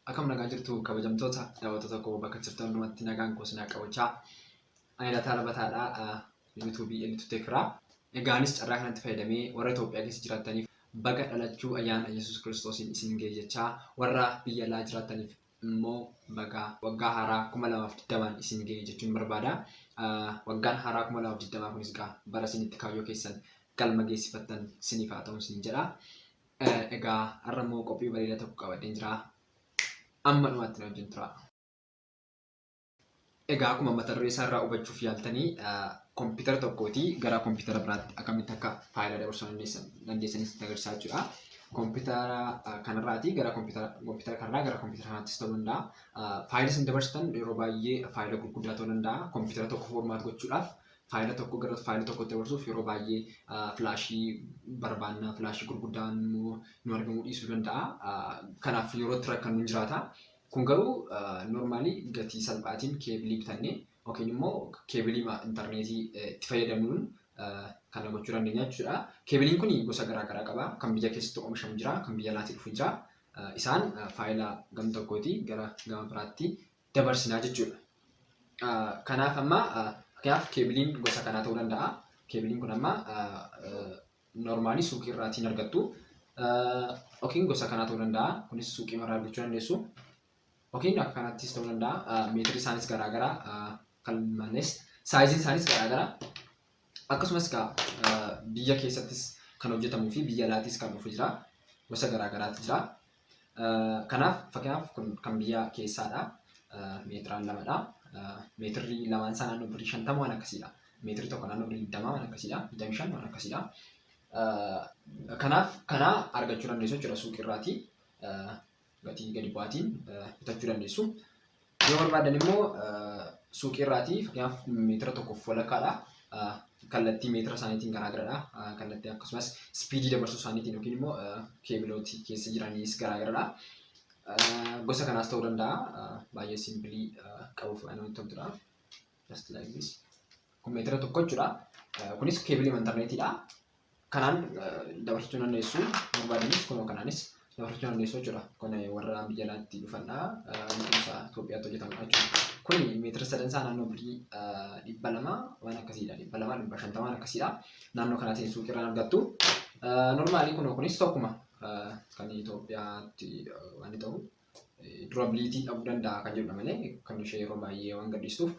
Akkam nagaa jirtu kabajamtoota daawwattoota koo bakka jirtan hundumatti nagaan koo sinaa qabachaa. Ani Lataa Labataadha. YouTube inni tuttee kiraa. Egaanis carraa kanatti fayyadamee warra Itoophiyaa keessa jiraattaniif baga dhalachuu ayyaana Yesuus Kiristoosiin isin ga'e jechaa warra biyya alaa jiraattaniif immoo baga waggaa haaraa kuma lamaaf digdamaan isin ga'e jechuun barbaada. Waggaan haaraa kuma lamaaf digdamaa kunis egaa bara isin itti kaayyoo keessan galma geessifattan isiniif haa ta'u isin jedha. Egaa har'a immoo qophii bareedaa tokko qabadheen jira. Amma dhumaatti na wajjin turaa. Egaa akkuma mata duree isaa irraa hubachuuf yaaltanii kompiitara tokkooti gara kompiitara biraatti akkamitti akka faayila dabarsuu dandeessanis itti agarsiisaa jechuudha. Kompiitara kanarraati gara kompiitara kanarraa gara kompiitara kanaattis ta'uu danda'a. Faayila isin dabarsitan yeroo baay'ee faayila gurguddaa ta'uu danda'a. Kompiitara tokko foormaat gochuudhaaf faayila tokko gara faayila tokkotti dabarsuuf yeroo baay'ee filaashii barbaanna filaashii gurguddaan immoo nu argamuu dhiisuu danda'a. Kanaaf yeroo itti rakkannu hin jiraata. Kun garuu normaalii gatii salphaatiin keebilii bitannee yookiin immoo keebilii intarneetii itti fayyadamnuun kana gochuu dandeenya jechuudha. Keebiliin kun gosa garaa garaa qaba. Kan biyya keessatti oomishamu jira, kan biyya alaatii dhufu jira. Isaan faayila gam tokkootii gara gama biraatti dabarsinaa jechuudha. Kanaaf amma fakkeenyaaf keebiliin gosa kanaa ta'uu danda'a. Keebiliin kun amma Normaalii suuqii irraatii hin argattu. Yookiin gosa kanaa ta'uu danda'a. Kunis suuqii irraa argachuu dandeessu. Yookiin akka kanattis ta'uu danda'a. Meetirri isaanis garaagaraa kan malees saayiziin isaanis garaagaraa. Akkasumas biyya keessattis kan hojjetamuu fi biyya alaattis kan dhufu jira. Gosa garaagaraatu jira. Kanaaf fakkeenyaaf kun kan biyya keessaadha. Meetiraan lamadha. Meetirri lamaan isaa naannoo birrii shantama waan akkasiidha. Meetirri tokko naannoo birrii digdamaa waan akkasiidha. Digdamii shan waan akkasiidha. Kanaaf kana argachuu dandeessu jechuudha suuqii irraatii gatii gadi bu'aatiin bitachuu dandeessu. Yoo barbaadan immoo suuqii irraatii fakkeenyaaf meetira tokkoof walakkaadha. Kallattii meetira isaaniitiin garaagaradha. Kallattii akkasumas ispiidii dabarsuu isaaniitiin yookiin immoo keebilooti keessa jiraniis garaagaradha. Gosa kanaas ta'uu danda'a. Baay'ee simpilii qabuuf namatti toltudha. just like this kun meetira tokko jechuudha kunis keebilii intarneetiidha kanaan dabarsachuu dandeessu barbaadanis kunoo kanaanis dabarsachuu dandeessu jechuudha kun warra biyya alaatti dhufandha kunuunsa Itoophiyaatti hojjetamudha jechuudha kun meetira sadan isaa naannoo birii dhibba lama waan akkasiidha dhibba lama dhibba shantama waan akkasiidha naannoo kanaatiin suuqii irraa argattu normaalii kunoo kunis tokkuma kan Itoophiyaatti waan ta'u durability dhabuu danda'a kan jedhudha malee kan ishee yeroo baay'ee waan gadhiistuuf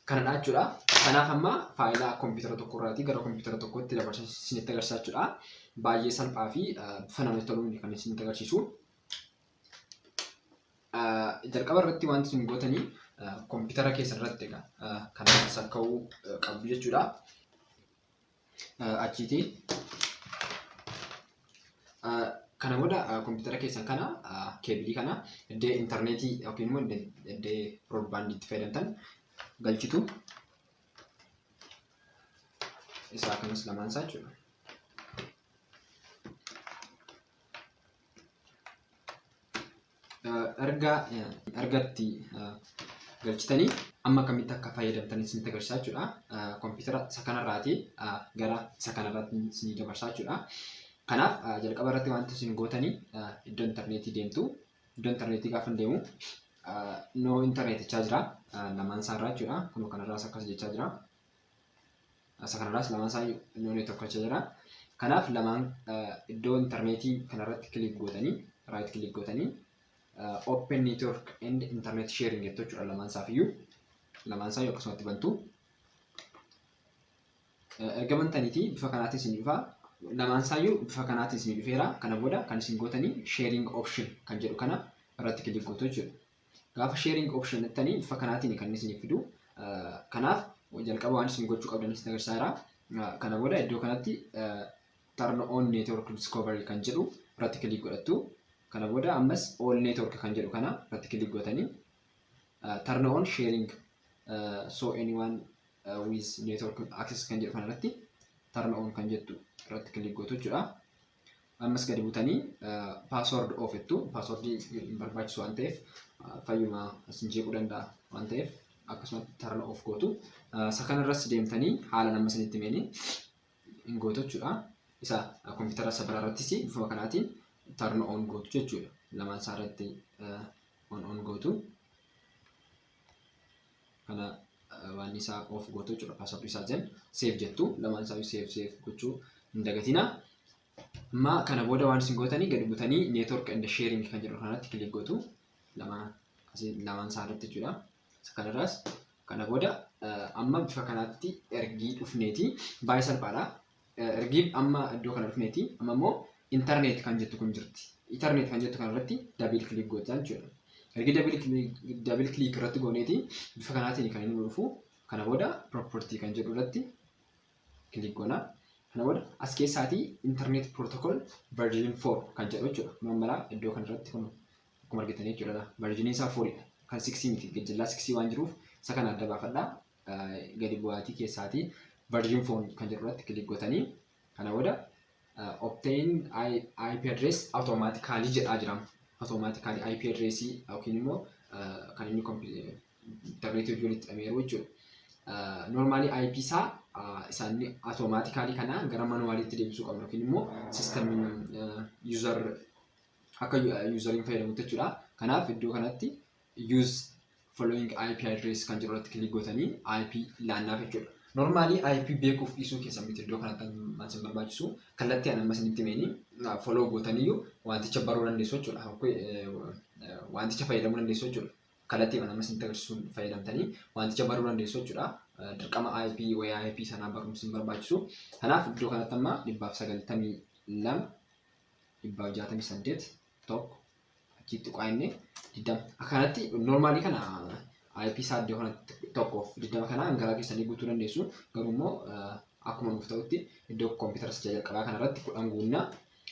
kanadha jechuudha. Kanaaf amma faayila kompiitara tokko irraatii gara kompiitara tokkotti dabarsa isinitti agarsiisa jechuudha. Baay'ee salphaa fi bifa namatti toluun kan isinitti agarsiisu. Jalqaba irratti wanti isin gootanii kompiitara keessan irratti egaa kan sakka'uu qabdu jechuudha. achiiti kana booda kompiitara keessan kana keebilii kana iddoo intarneetii yookiin immoo iddoo broodbaandii itti fayyadamtan galchitu isaa kanas lamaan isaa jechuudha. erga ergatti galchitanii amma akkamitti akka fayyadamtan isinitti agarsiisaa jechuudha. Kompiitara isa kanarraati gara isa kanarratti isinii dabarsaa jechuudha. Kanaaf jalqaba irratti wanti isin gootanii iddoo intarneetii deemtu. Iddoo intarneetii gaafa hin deemu noo intarneetichaa jira lamaan isaarraa jechuudha. Kunoo kanarraas akkas jechaa jira. Asa kanarraas lamaan isaa innoo neetworkacha jira. Kanaaf lamaan iddoo intarneetii kanarratti kiliik gootanii raayit kiliik gootanii open network and internet sharing jettu jechuudha lamaan isaaf iyyuu lamaan isaa akkasumatti bantu. Erga bantaniitii bifa kanaatiin isin dhufa lamaan isaa iyyuu bifa kanaatiin isin dhufeera kana booda kan isin gootanii sharing option kan jedhu kana irratti kiliik gootu jechuudha. Gaafa sharing option jettanii bifa kanaatiin kan isinif fidu. Kanaaf jalqaba waan isin gochuu qabdan isin agarsiisaa jira. Kana booda iddoo kanatti turn on network discovery kan jedhu irratti kilik godhattu. Kana booda ammas all network kan jedhu kana irratti kilik gootanii turn on sharing so anyone with network access kan jedhu kana irratti turn on kan jettu irratti kilik gootu jechuudha. Ammas gadi butanii password oofittu. Password hin barbaachisu waan ta'eef fayyuma isin jeequu danda'a waan ta'eef akkasumatti turn off gootu. Isa kanarras deemtanii haala nama isinitti himeen hin gootu jechuudha. Isa kompiitara isa biraarrattis bifuma kanaatiin turn on gootu jechuudha. Lamaan isaarratti on on gootu. kana waan isaa of gootu jechuudha password isaa jen save jettu lamaan isaa save save gochuu hin dagatina amma kana booda waan isin gootanii gadi butanii network and sharing kan jedhu kanatti click gootu lama asii lamaan isaa irratti jechuudha isa kanarraas kana booda amma bifa kanaatti ergii dhufneeti baay'ee salphaadha Ergiib amma iddoo kana dhufneeti. Amma immoo internet kan jettu kun jirti. Internet kan jettu kana irratti double click goota jechuudha. Ergi double click double click irratti gooneeti bifa kanaatiin kan inni nu dhufu. Kana booda property kan jedhu irratti click goona. Kana booda as keessaatii internet protocol version 4 kan jedhu jechuudha. Kun amma laa iddoo kana irratti kun akkuma argitanii jechuudha. Version isaa 4 dha. Kan 6 miti gajjallaa 6 waan jiruuf isa kana adda baafadhaa. gadi bu'aatii keessaati version phone kan jedhu irratti click gotanii kana booda obtain IP address automatically jedhaa jira automatically IP address yookiin immoo kan inni interneetii hojii walitti dhameeru jechuudha normally IP isaa isaan automatically kana gara manuwaaliitti deebisuu qabna yookiin immoo system user akka useriin fayyadamutti jechuudha kanaaf iddoo kanatti use following IP address kan jiru irratti kilik gootanii IP laannaaf jechuudha. Normaalii IP beekuuf dhiisuu keessan miti iddoo kanatti kan isin barbaachisu kallattii ani amma isinitti himeenii follow gootaniyyuu wanticha baruu dandeessu jechuudha. Wanticha fayyadamuu dandeessu jechuudha. Kallattii ani amma isinitti agarsiisuun fayyadamtanii wanticha baruu dandeessu jechuudha. Dirqama IP wayyaa IP sanaa barumsi hin barbaachisu. Kanaaf iddoo kanatti amma dhibbaaf sagaltamii lama dhibbaaf jaatamii saddeet tokko achitti tuqaa inni digdama akkanatti normaalii kana IP isaa iddoo kanatti tokkoof digdama kana hangaraa keessanii guutuu dandeessu garuu immoo akkuma nuuf ta'utti iddoo kompiitara isa jalqabaa kanarratti kudhan guunnaa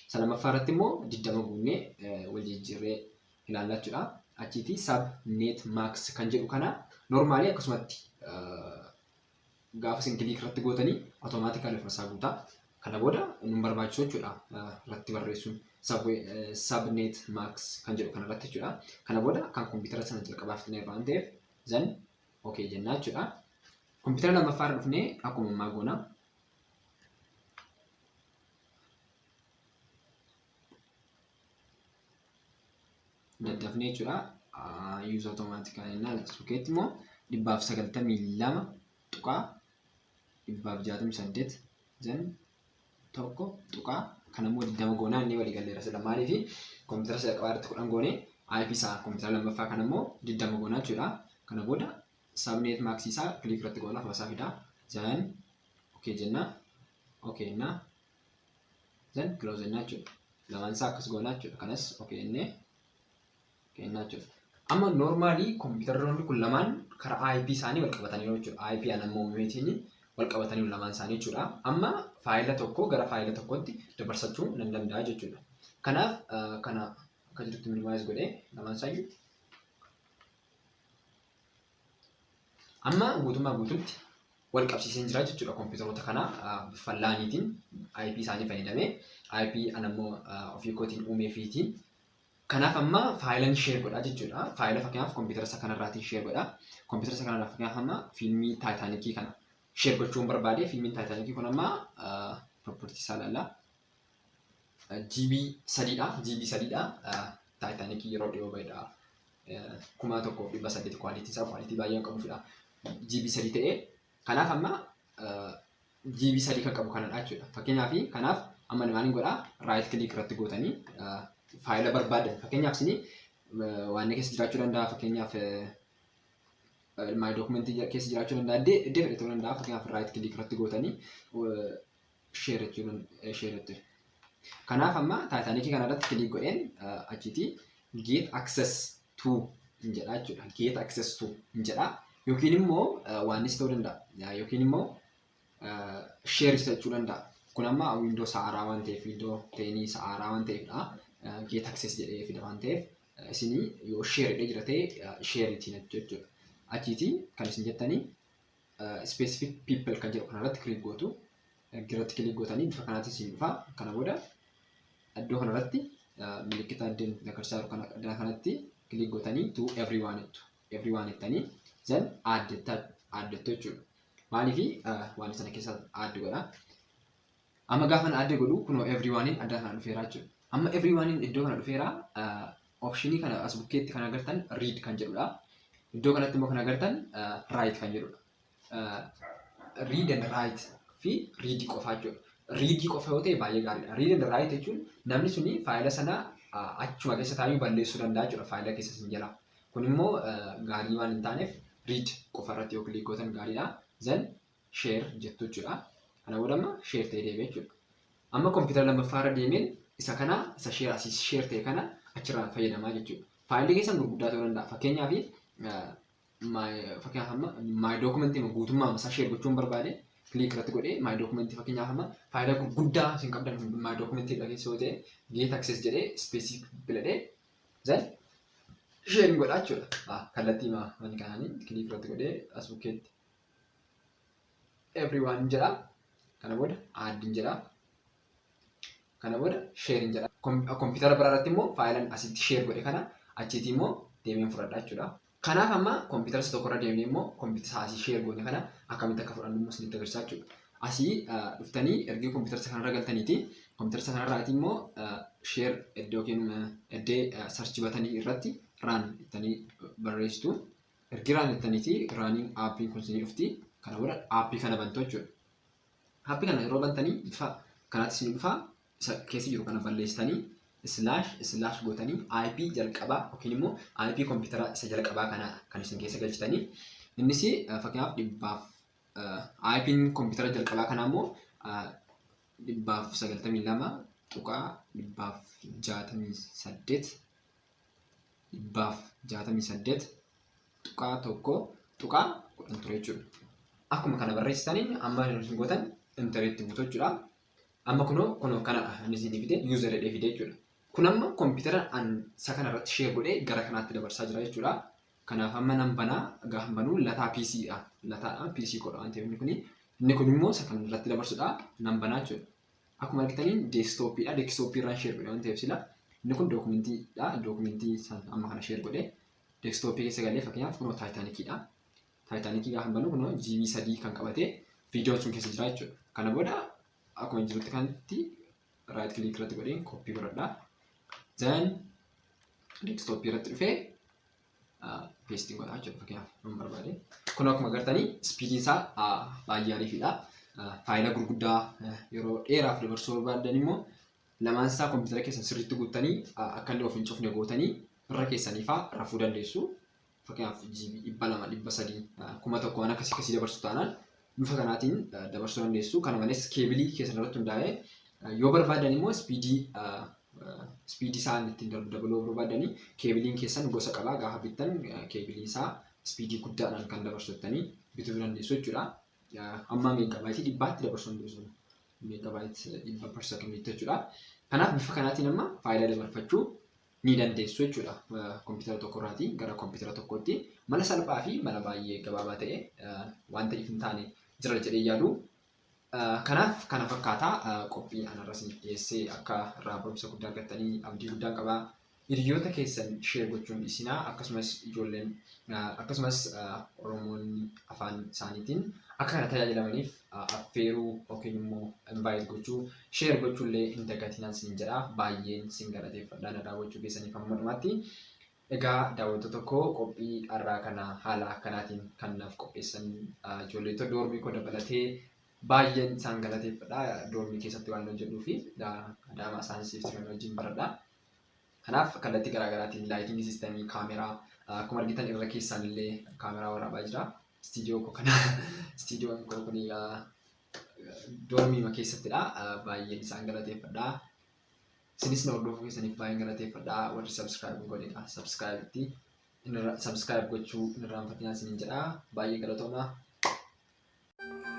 isa lammaffaa irratti immoo digdama guunnee wal jijjiirree ilaalla jechuudha. Achiiti sub net max kan jedhu kana normaalii akkasumatti gaafa isin kiliik irratti gootanii automaatikali ofuma isaa guutaa. Kana booda nun barbaachisu jechuudha irratti barreessuun sabnet max kan jedhu kana irratti jechuudha. Kana booda kan kompiitara sana jalqabaaf xinee waan ta'eef zan ok jennaa jechuudha. Kompiitara lammaffaa irra dhufnee akkuma ammaa goona. daddafnee jechuudha. Yuuza otomaatikaan innaa lakkisu keetti immoo dhibbaaf sagaltamii lama tuqaa dhibbaaf jaatamii saddeet jan tokko tuqaa kan immoo digdama goonaa inni walii galleera sila maaliif koompitara isa qabaa irratti kudhan goonee IP isaa koompitara lammaffaa kan immoo digdama goonaa jechuudha. Kana booda sabneet maaksii isaa kiliik irratti goonaa fasaa fidaa jan okee jennaa okee innaa Then close jennaa jechuudha. Lamaan isaa akkas goonaa jechuudha. Kanas ok jennee kennaa jechuudha. Amma normaalii kompiitaroonni kun lamaan karaa IP isaanii wal qabataniiru jechuudha. IP an amma uumeetiin wal qabataniiru lamaan isaanii jechuudha. Amma faayila tokko gara faayila tokkotti dabarsachuu nan danda'a jechuudha. Kanaaf kana akka jirutti minimize godhee lamaan isaayyuu Amma guutummaa guututti wal qabsiiseen jira jechuudha kompiitaroota kana bifa laaniitiin IP isaanii fayyadamee IP anammoo ofii kootiin uumee fiitiin. Kanaaf amma faayilan sheer godha jechuudha. Faayila fakkeenyaaf kompiitara isa kanarraatiin sheer godha. Kompiitara isa kanarraa fakkeenyaaf amma fiilmii taayitaanikii kana sheer gochuun barbaade fiilmiin taayitaanikii kun amma pirooportii isaa ilaalla. GB sadiidha. GB sadiidha. Taayitaanikii yeroo dhiyoo ba'edha. Kuma tokkoof dhibba saddeet kwaalitii isaa kwaalitii baay'ee kan qabudha. GB sadii ta'ee kanaaf amma GB sadii kan qabu kanadha jechuudha. Fakkeenyaaf kanaaf amma maaliin godhaa raayit kiliik irratti gootanii faayila barbaadan fakkeenyaaf isin waan keessa jiraachuu danda'a fakkeenyaaf maay dookumentii keessa jiraachuu danda'a iddoo fedhe ta'uu danda'a fakkeenyaaf raayit kiliik irratti gootanii share jechuun ishee nutti kanaaf amma taayitaanikii kana irratti kilii godheen achitii get access to hin jedhaa jechuudha get access to hin jedhaa yookiin immoo waanis ta'uu danda'a yookiin immoo share jechuu danda'a kun amma windoo sa'aaraa waan ta'eef windoo teenii sa'aaraa waan ta'eefdha get access jedhee fida waan ta'eef isinii yoo share jedhee jira ta'e share ittiin jechuudha achiitii kan isin jettanii specific people kan jedhu kanarratti click gootu irratti click gootanii bifa kanaatiin siin dhufa kana booda iddoo kanarratti milikkita addeen agarsiisaa jiru kana addana kanatti click gootanii to everyone jettu everyone jettanii then add jettu jechuudha maaliif waan sana keessa add godha Amma gaafa na adda godhu kunoo everyonein adda kana dhufeera jechuudha. Amma everyonein iddoo kana dhufeera optionii kana as bukkeetti kan agartan read kan jedhudha. Iddoo kanatti immoo kan agartan write kan jedhudha. Read and write fi read qofaa jechuudha. Read qofa yoo ta'e baay'ee gaariidha. Read and write jechuun namni suni faayila sana achuma keessa taa'ee balleessuu danda'a jechuudha faayila keessa sin jalaa. Kun immoo gaarii waan hin taaneef read qofa irratti yoo kilik gootan gaariidha. Then sheer jettu jechuudha. Kana booda amma sheer ta'ee deeme jechuudha. Amma kompiitara lammaffaa irra deemeen isa kana isa sheer asii sheer ta'e kana achirraan fayyadamaa jechuudha. Faayilli keessan gurguddaa ta'uu danda'a. Fakkeenyaaf fakkeenyaaf amma maay dookumentii guutummaa isaa sheer gochuun barbaade kiliik irratti godhee maay dookumentii fakkeenyaaf amma faayila gurguddaa isin qabdan maay dookumentii irra keessa yoo ta'e geet aksees jedhee ispeesii biladhee zan sheer godhaa jechuudha. Kallattii maanii kanaanii kiliik irratti godhee as bukkeetti everyone hin jedha kana booda add hin jedha kana booda share hin jedha kompiitara biraa irratti immoo faayilan asitti share godhe kana achiiti immoo deemeen fudhadha jechuudha. Kanaaf amma kompiitara isa tokkorra deemnee immoo kompiitara asii share goone kana akkamitti akka fudhannu immoo isinitti agarsiisaa jechuudha. Asii dhuftanii ergii kompiitara isa kanarra galtaniiti kompiitara isa kanarraati immoo share iddoo yookiin iddee sarchi batanii irratti raan ittanii barreessitu. Ergi raan jettaniiti raaniin aappiin kun isinii dhufti. Kana booda aappii kana bantu jechuudha. Aappii kana yeroo bantanii bifa kanaatti isinii dhufa. Isa keessa jiru kana balleessitanii islaash islaash gootanii IP jalqabaa yookiin immoo IP kompiitara isa jalqabaa kana kan isin keessa galchitanii innis fakkeenyaaf dhibbaaf IPn kompiitara jalqabaa kanaa immoo dhibbaaf sagaltamii lama tuqaa dhibbaaf jaatamii saddeet dhibbaaf jaatamii saddeet tuqaa tokko tuqaa kudhan ture jechuudha. Akkuma kana barreessitaniin amma hin gootan intareetti buutu jechuudha. Amma kunoo kunoo kanadha inni isin fide yuuzar jedhee fide jechuudha. Kun amma kompiitara an isa kana irratti shee godhee gara kanaatti dabarsaa jira jechuudha. Kanaaf amma nan banaa gaafa banuu lataa PC dha. Lataadha PC koodha waan ta'eef inni kuni. Inni kun immoo isa kana irratti dabarsudha. Nan banaa jechuudha. Akkuma argitaniin deeskitooppiidha. Deeskitooppii irraan sheer godhe waan ta'eef sila inni kun dookumentiidha. Dookumentii san amma kana sheer godhe deeskitooppii keessa galee fakkeenyaaf kunoo taayitaanikiidha. Taayitaanikii gaafa banu kunoo jiibii sadii kan qabate viidiyoon sun keessa jira jechuudha. Kana booda akkuma jirutti kanatti raayit kiliik irratti godheen kooppii godhadha. Zan deeskitooppii irratti dhufee peestii godhaa jechuudha fakkeenyaaf hin barbaade. Kun akkuma agartanii ispiidiin isaa baay'ee ariifidha. Faayila gurguddaa yeroo dheeraaf dabarsuu barbaaddan immoo lamaan isaa kompiitara keessan sirriitti guuttanii akka inni of hin cufne gootanii irra keessanii fa'aa rafuu dandeessu. Fakkeenyaaf jiibii dhibba lama dhibba sadii kuma tokko waan akkasii akkasii dabarsu taanaan bifa kanaatiin dabarsuu dandeessu. Kana malees keebilii keessan irratti hundaa'ee yoo barbaadan immoo ispiidii ispiidii isaa ittiin darbu dabaluu barbaadanii keebiliin keessan gosa qabaa gaafa bittan keebilii isaa ispiidii guddaadhaan kan dabarsu jettanii bituu dandeessu jechuudha. Amma meegaabaayitii dhibbaatti dabarsuu dandeessu. Meegaabaayitii dhibba per sekondiitti jechuudha. Kanaaf bifa kanaatiin amma faayidaa dabarfachuu ni dandeessu jechuudha. Kompiitara tokko irraatii gara kompiitara tokkootti mala salphaa fi mala baay'ee gabaabaa ta'e wanta if hin taane jira jedhee yaadu. Kanaaf kana fakkaataa qophii anarra isiniif dhiyeessee akka irraa barumsa guddaa argattanii abdii guddaan qaba. Hiriyoota keessan sheer gochuun dhiisinaa akkasumas ijoolleen akkasumas Oromoonni afaan isaaniitiin akka kana tajaajilamaniif affeeruu yookiin immoo invite gochuu share gochuu illee hin dagatinaa sin jedha baay'een sin galateeffadha na daawwachuu keessaniif hamma dhumaatti egaa daawwattoota koo qophii har'aa kana haala akkanaatiin kan naaf qopheessan ijoolleetoo doormii koo dabalatee baay'een isaan galateeffadha doormii keessatti waan hojjedhuu fi adaamaa isaan siif turan wajjin baradha kanaaf kallattii garaagaraatiin laayitingii siistemii kaameraa akkuma argitan irra keessaan illee kaameraa waraabaa jira Istiidiyoo koo kana istiidiyoon koo kun doormiima keessattidha. Baay'een isaan galateeffadha. Isinis na hordofuu keessaniif baay'een galateeffadha. Warri subscribe hin godhe egaa subscribe itti subscribe gochuu hin irraanfatinaa isiniin jedha. Baay'ee galatooma.